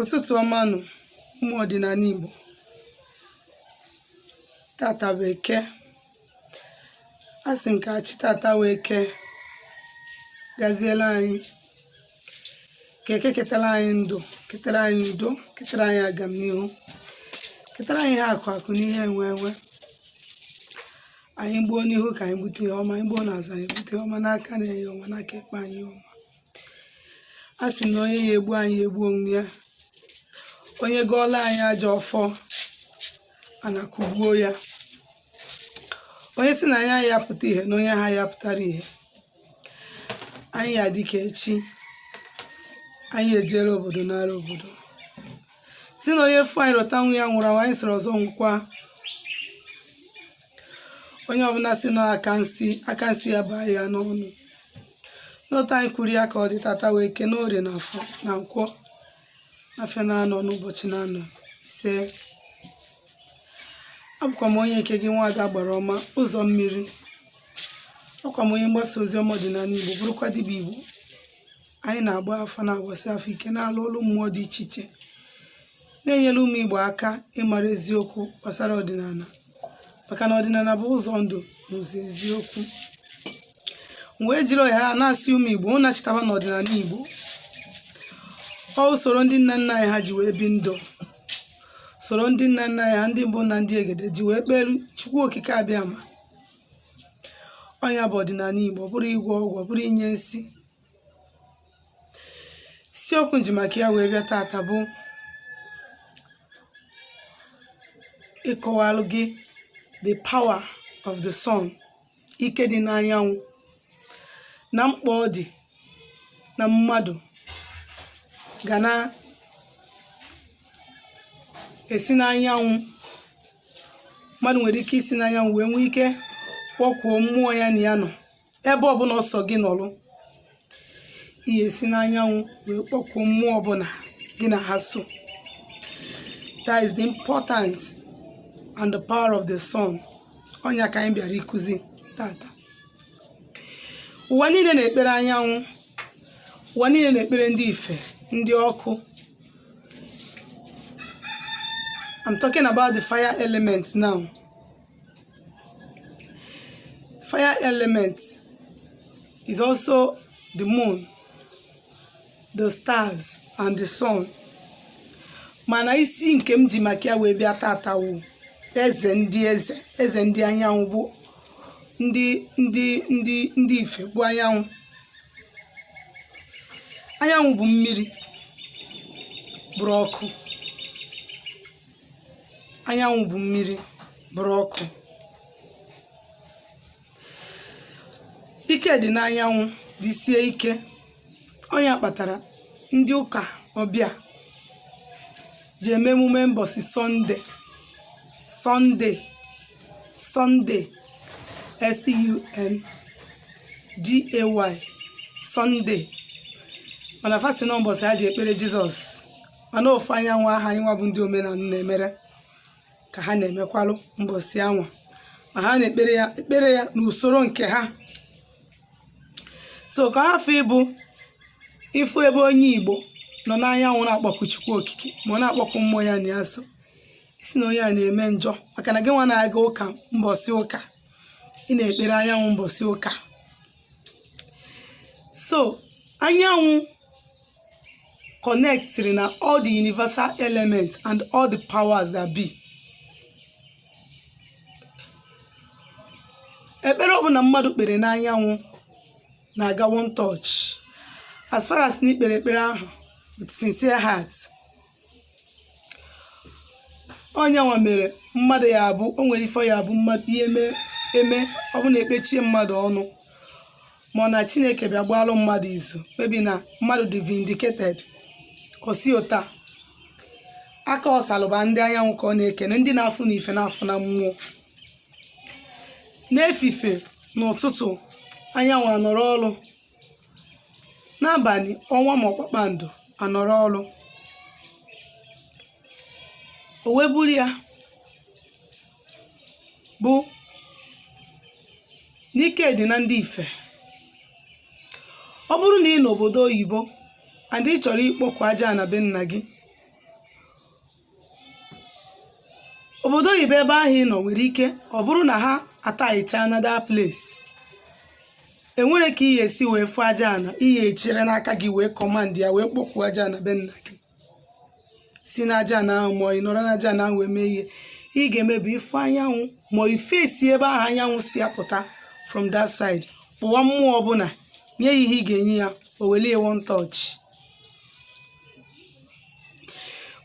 ụtụtụ ọma nụ ụmụ ọdịnala Igbo tata bụ eke a sị m ka chi tata wee kee gaziera anyị ka eke ketara anyị ndụ ketara anyị udo ketara anyị agamnihu ketara anyị ihe akụ akụ na ihe enwe enwe anyị gbuo n'ihu ka anyị gbute ihe ọma anyị gbuo n'azụ anyị gbute ihe ọma n'aka nni ihe ọma n'aka ekpe anyị ihe ọma a sị na onye ya-egbu anyị ya gbuo onwe ya onye gọọla anyị ajọ ọfọ ana kụgbuo ya onye sị na anyị aya-apụta ihe na onye ha ya pụtara ihe anyị ya-adị ka echi anyị ya-ejere obodo naara obodo sị na onye fụ anyị rota nwa ya nwụrụ anwụ anyị sịrị ọzọ nwụkwa onye ọbụla si na aka nsi aka nsi ya baa ya n'ọnụ n'otu anyị kwuru ya ka ọ dị tata bụ eke na orie na afọ na nkwọ afịa na-anọ n'ụbọchị na-anọ ise abụkwa m onye nke gị nwaada agbara ọma ụzọ mmiri abụkwa m onye mgbasa ozi ọma ọdịnala igbo bụrụkwa dibịa igbo anyị na-agba afa na-agbasi afa ike na-alụ ọlụ mmụọ dị iche iche na-enyere ụmụ Igbo aka ịmara eziokwu gbasara ọdịnala maka na ọdịnala bụ ụzọ ndụ na ụzọ eziokwu m wee jiri ohere a na-asị ụmụ Igbo nachitaba n'ọdịnala Igbo ọ usoro ndị nna nna anyị ha ji wee bi ndụ usoro ndị nna nna anyị ha ndị mbụ na ndị egede ji wee kpere Chukwu Okike Abịama ọ nya bụ ọdịnala Igbo ọ bụrọ ịgwọ ọgwụ ọ bụrọ inye nsi isiokwu m ji maka ya wee bịa tata bụ ịkọwalụ gị the power of the sun ike dị n'anyanwụ na mkpa ọ dị na mmadụ ga na-esi n'anyanwụ mmadụ nwere ike isi n'anyanwụ wee nwee ike kpọkwuo mmụọ ya na ya nọ ebe ọbụla ọ sọ gị nọrụ ị ya-esi n'anyanwụ wee kpọkuo mmụọ ọbụla gị na ha so that is the importance and the power of the sun ọ nya ka anyị bịara ịkụzi tata ụwa niile na-ekpere anyanwụ ụwa niile na-ekpere ndị ife ndị ọkụ I'm talking about the fire element now fire element is also the moon the stars and the sun mana isi nke m ji maka ya wee bịa tata wụ eze ndị anyanwụ bụ ndị ife bụ anyanwụ anyanwụ bụ mmiri bụrụ ọkụ anyanwụ bụ mmiri bụrụ ọkụ ike dị n'anyanwụ dị sie ike ọ nya kpatara ndị ụka ọbịa ji eme emume mbọsị sunday sunday sunday s-u-n-d-a-y sunday mana fa sị na mbọsị ha ji ekpere jizọs mana ofu anyanwụ ahụ anyị nwa bụ ndị omenala na-emere ka ha na-emekwalụ mbọsị anwa ma ha na-ekpere ya n'usoro nke ha so ka hafụ ịbụ ị fụ ebe onye igbo nọ n'anyanwụ na-akpọku chukwu okike ma ọ na-akpọku mmụọ ya na ya so ị sị na onye a na-eme njọ maka na gị nwa na-aga ụka mbọsị ụka ị na-ekpere anyanwụ mbọsị ụka so anyanwụ connectiri na all the universal elements and all the powers that be ekpere ọbụla mmadụ kpere n'anyanwụ na-aga one touch as far as na i kpere ekpere ahụ with sincere heart ọ nya nwa mere mmadụ ya abụ o nwere ife ya bụ mmadụ ye-eme ọ bụ na e kpechie mmadụ ọnụ ma na chineke bịa gbalụ mmadụ izu maybe na mmadụ dị vindicated o si ụta aka ọ salụba ndị anyanwụ ka ọ na-ekene ndị na-afụ n'ife na-afụ na mmụọ n'efifie n'ụtụtụ anyanwụ anọrọ ọrụ n'abalị ọnwa ma kpakpando anọrọ ọrụ o wee bụrụ ya bụ n'ike dị na ndị ife ọ bụrụ na ị nọ obodo oyibo and ị chọrọ ịkpọku aja ana be nna gị obodo oyibo ebe ahụ ị nọ nwere ike ọ bụrụ na ha atilecha ana that place e nwere ka ị ga-esi wee fụ aja ana ị ga-achịrị n'aka gị wee command ya wee kpọkuo aja ana be nna gị si n'aja ana ahụ ma ị nọrọ n'aja ana ahụ wee mee ihe ị ga-eme bụ ị fụ anyanwụ ma ị face ebe ahụ anyanwụ si apụta from that side kpọwa mmụọ ọbụla nye ya ihe ị ga-enye ya o welie one touch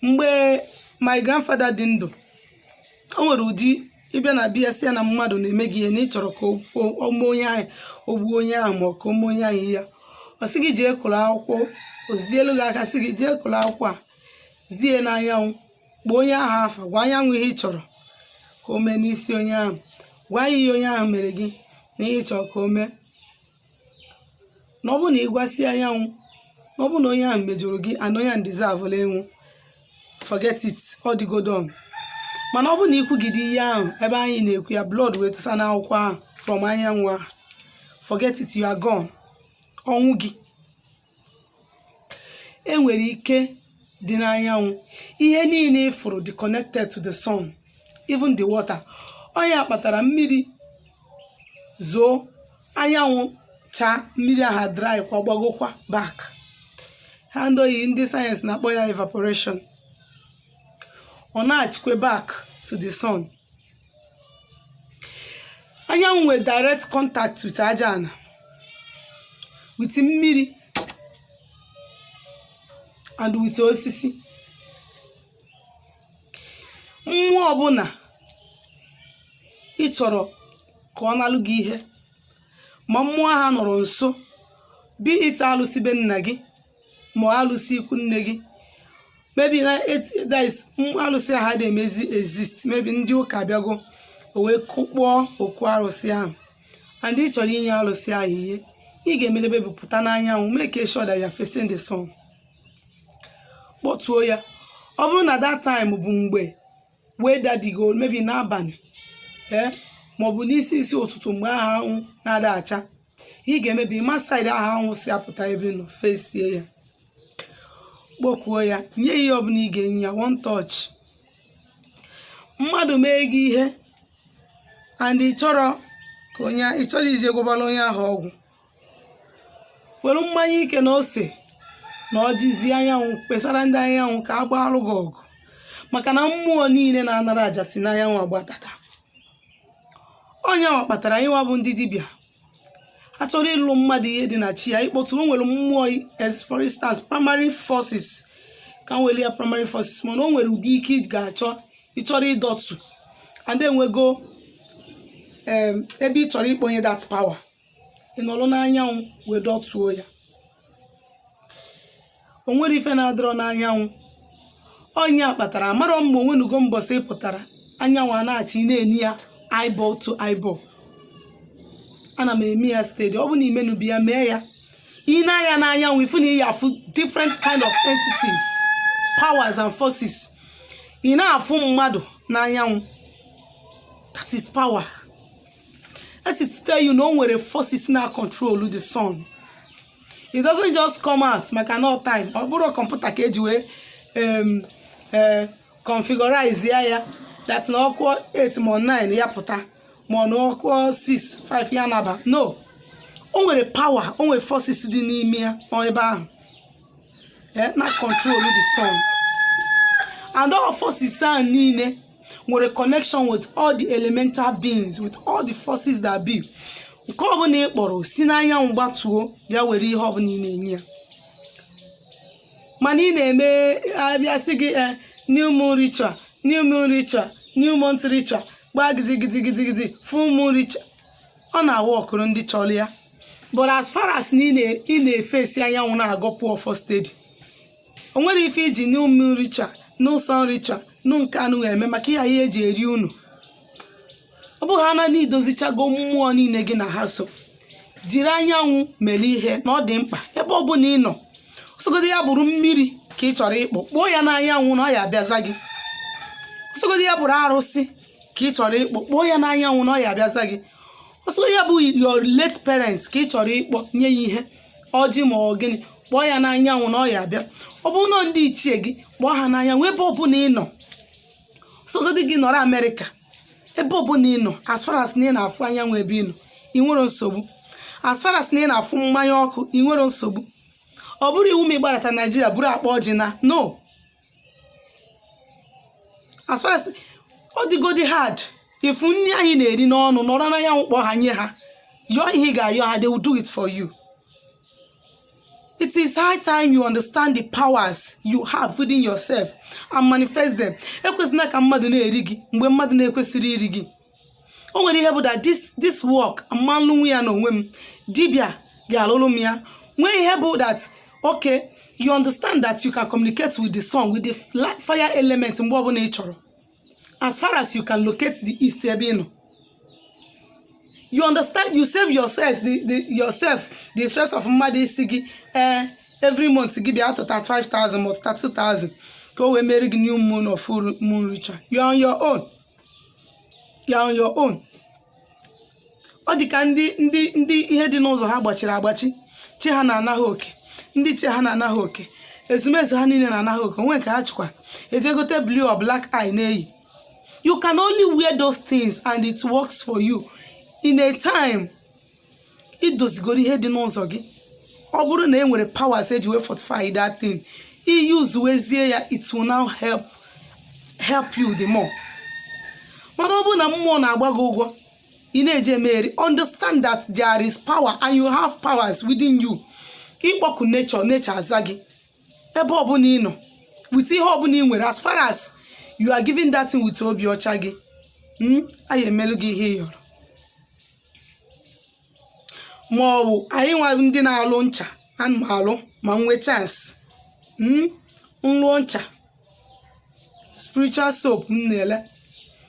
mgbe my grandfather dị ndụ o nwere ụdị ị bịa na be ya sị ya na mmadụ na-eme gị ihe na ị chọrọ ka o- o- o mee onye ahụ o gbuo onye ahụ ma ọ ka o mee onye ahụ ihe ya ọ sị gị jee kụrụ akwụkwọ o zielu gị aka sị gị jee kụrụ akwụkwọ a zie n'anyanwụ kpọọ onye ahụ afa gwa anyanwụ ihe ị chọrọ ka o mee n'isi onye ahụ gwa ya ihe onye ahụ mere gị na ihe ị chọrọ ka o mee na ọ bụ na ị gwasịa anyanwụ na ọ bụ na onye ahụ mejọrọ gị and onye ahụ deservela ịnwụ forget it ọ dịgo done mana ọ bụ na ị kwugide ihe ahụ ebe anyị na-ekwu ya blood wee tụsa n'akwụkwọ ahụ from anyanwụ ahụ forget it you are gone ọnwụ gị e nwere ike dị n'anyanwụ ihe niile ị fụrụ dị connected to the sun even the water ọ nya kpatara mmiri zoo anyanwụ chaa mmiri aha dry kwa gbagokwa back ha ndị oyi- ndị science na-akpọ ya evaporation ọ na-achịkwe back to the sun anyanwụ nwere direct contact with aja ana with mmiri and with osisi mmụọ ọbụla ị chọrọ ka ọ nalụ gị ihe ma mmụọ aha anọrọ nso be it alụsị be nna gị ma ọ alụsị ikwu nne gị maybe na et- that is, m- alụsị aha ada emezi exist maybe ndị ụka abịago o wee kụkpọọ okwu arụsị ahụ and ị chọrọ inye alụsị ahụ ihe ị ga-emelebe bụ pụta n'anyanwụ make sure that you are facing the sun kpọtuo ya ọ bụrụ na that time bụ mgbe weather dịgo maybe n'abalị ee maọbụ n'isi isi ụtụtụ mgbe aha anwụ na-ada acha ị ga maybe ma side aha anwụ si apụta ebe ị nọ fesie ya kpokuo ya nye ya ihe ọbụla ị ga-enye ya one touch mmadụ mee gị ihe and ị chọrọ ị chọrọ ije gwọbara onye ahụ ọgwụ were mmanya ike na ose na ọjị zi anyanwụ kpesara ndị anyanwụ ka a gbaalụ gị ọgụ maka na mmụọ niile na-anara aja si n'anyanwụ agbatata ọ nyanwa kpatara anyịnwa bụ ndị dibịa ha chọrọ ịlụ mmadụ ihe dị na chi ya ịkpọtụ o nwere mmụọ as for instance primary forces ka m weli ya primary forces mana o nwere ụdị ike ị ga-achọ ị chọrọ ịdọtụ and enwego em, ebe ị chọrọ ịkpọnye that power ị nọrọ n'anyanwụ wee dọtuo ya o nwere ife na-adịrọ n'anyanwụ onye a kpatara amarọ mma onwenugo mbọsị ị pụtara anyanwụ a na-achị ị na-ene ya eyeball to eyeball ana m eme ya steady ọ bụ na i menubi ya mee ya i nee anya n'anyanwụ ị fụ na ị ya-afụ different kind of entities powers and forces ị na-afụ mmadụ n'anyanwụ that is power that is to tell you na o nwere forces na control the sun it doesn't just come out maka na time ọ bụrọ kọmputa ka eji wee em, eh, configurize ya ya that na ọ kụọ 8 ma 9 ya pụta ma na ọ kụọ 6 5 ya naba no o nwere power o nwere forces dị n'ime ya nọ ebe ahụ eh, na control the sun and all forces ahụ niile nwere connection with all the elemental beings with all the forces that be nke ọbụla ị kpọrọ si n'anyanwụ gbatuo bịa were ihe ọbụla ị na-enye ya mana ị na-eme a bịa sị gị eh, new moon ritual new moon ritual new month ritual gbaa gidigidigidigidi full moon ritual ọ na-aworkụrụ ndị chọrọ ya but as far as na ị na- ị na-efesi anyanwụ na-agọpụ ọfọ steady o nwerọ ife i ji new moon ritual new sun ritual na nke anụ eme maka ihe eji eri unu ọ bụhaa na i dozichago mmụọ niile gị na ha so jiri anyanwụ mere ihe na ọ dị mkpa ebe ọ bụla ị nọ ọ sọgodi ya bụrụ mmiri ka ị chọrọ ịkpọ kpọọ ya n'anyanwụ na ọ ya abịaza gị ọ sọgodi ya bụrụ arụsị ka ị chọrọ ịkpọ kpọọ ya n'anyanwụ na ọ ya abịaza gị ọ sọgodi ya bụ your late parent ka ị chọrọ ịkpọ nye ya ihe ọjị ma ọ gịnị kpọọ ya n'anyanwụ na ọ ya abịa ọ bụrụ na ndị ichie gị kpọọ ha n'anyanwụ ebe ọbụla ị nọ ọ sọgodi gị nọrọ amerịka ebe ọbụla ị nọ as far as na ị na-afụ anyanwụ ebe ị nọ i nwerọ nsogbu as far as na ị na-afụ mmanya ọkụ i nwerọ nsogbu ọ bụrọ iwu ma ị gbarata naijiria buru akpa ọjị na no as far as ọ dịgodi hard ị fụ nri anyị na-eri n'ọnụ nọrọ n'anyanwụ kpọọ ha nye ha yọọ ihe ị ga-ayọ ha they will do it for you it is high time you understand the powers you have within yourself and manifest them ekwezina ka mmadụ na-eri gị mgbe mmadụ na-ekwesịrọ iri gị o nwere ihe bụ that this this work m ma-alụnwu ya n'onwe m dibịa ga-alụrụ m ya nwee ihe bụ that okay you understand that you can communicate with the sun with the fla- fire element mgbe ọbụla ị chọrọ as far as you can locate the east ebe ị nọ you understand you save yourself the, the yourself the stress of mmadụ ịsị gị eh, every month gị bịa tụta 5000 ma tụta 2000 ka o wee mere gị new moon or full moon ritual you are on your own you are on your own ọ dị ka ndị ndị ndị ihe dị n'ụzọ ha gbachiri agbachi chi ha na-ana ha oke ndị chi ha na-ana ha oke ezumezu ha niile na-ana ha oke o nwee ike ha chịkwa ejee gote blue or black eye na-eyi you can only wear those things and it works for you in a time i dozigoro ihe dị n'ụzọ gị ọ bụrụ na e nwere powers e ji wee fortify that thing i yuzuwezie ya it will now help help you the more mana ọ bụrụ na mmụọ na-agba gị ụgwọ ị na-eji emeri understand that there is power and you have powers within you ị kpọkuo nature nature aza gị ebe ọbụla ị nọ with ihe ọbụla ị nwere as far as you are giving that thing with obi ọcha gị mm, a ya emelu gị ihe ị yọrọ ma ọ bụ anyị nwa ndị na-alụ ncha ana m alụ ma m nwee chance m lụọ ncha spiritual soap m na-ele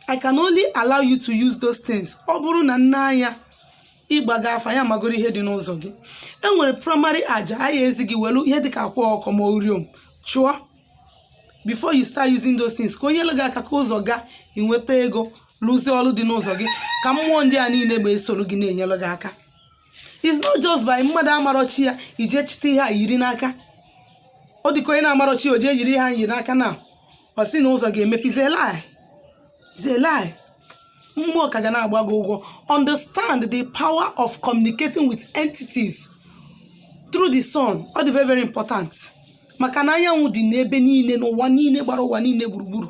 I can only allow you to use those things ọ bụrụ na m nee anya ị gbago afa ya magoro ihe dị n'ụzọ gị e nwere primary aja a ya ezi gị welu ihe dịka akwa ọkụkọ ma uriom chụọ before you start using those things ka o nyelụ gị aka ka ụzọ gaa i nweta ego lụzie ọlụ dị n'ụzọ gị ka mmụọ ndị a niile bịa soro gị na-enyelụ gị aka it's not just by mmadụ amarọ chi ya i jee chịte ihe a yiri n'aka ọ dịka onye na-amarọ chi ya o jee yiri ihe a yiri n'aka na ọ sị na ụzọ ga-emepe is a lie is a lie mmụọ ka ga na-agba gị ụgwọ understand the power of communicating with entities through the sun ọ dị very very important maka na anyanwụ dị n'ebe niile n'ụwa niile gbara ụwa niile gburugburu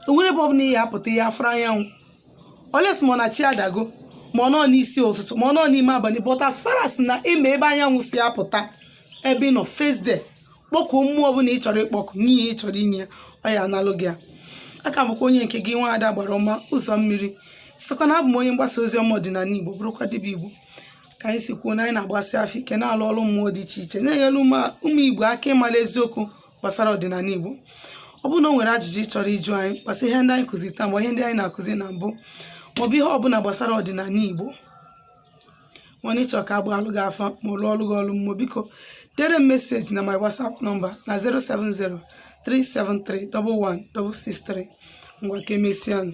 o nwerọ ebe ọbụla ị ya apụta ị ya afụrọ anyanwụ unless ma ọ na chi adago ma ọ nọ n'isi ụtụtụ ma ọ nọ n'ime abalị but as far as na ị ma ebe anyanwụ si apụta ebe ị nọ face there kpọkuo mmụọ ọbụla ị chọrọ ịkpọku nye ihe ị chọrọ inye ya ọ ya analụ gị ya aka bụkwa onye nke gị nwaada agbara ọma ụzọ mmiri sịkwa na abụ m onye mgbasa ozi ọma ọdịnala igbo bụrụkwa dibịa igbo ka anyị si kwuo na anyị na-agbasi afa ike na-alụ ọrụ mmụọ dị iche iche na-enyere ụmụ ụmụ igbo aka ịmara eziokwu gbasara ọdịnala igbo ọ bụrụ na o nwere ajụjụ ị chọrọ ịjụ anyị gbasara ihe ndị anyị kụzi taa ma ihe ndị anyị na-akụzi na mbụ maọbụ ihe ọbụla gbasara ọdịnala igbo ma ọ na ị chọọ ka a gbaalụ gị afa ma ọ lụọlụ gị ọlụ mmụọ biko dere m message na my whatsapp number na 070 373 11663 ngwa ka e mesịa nụ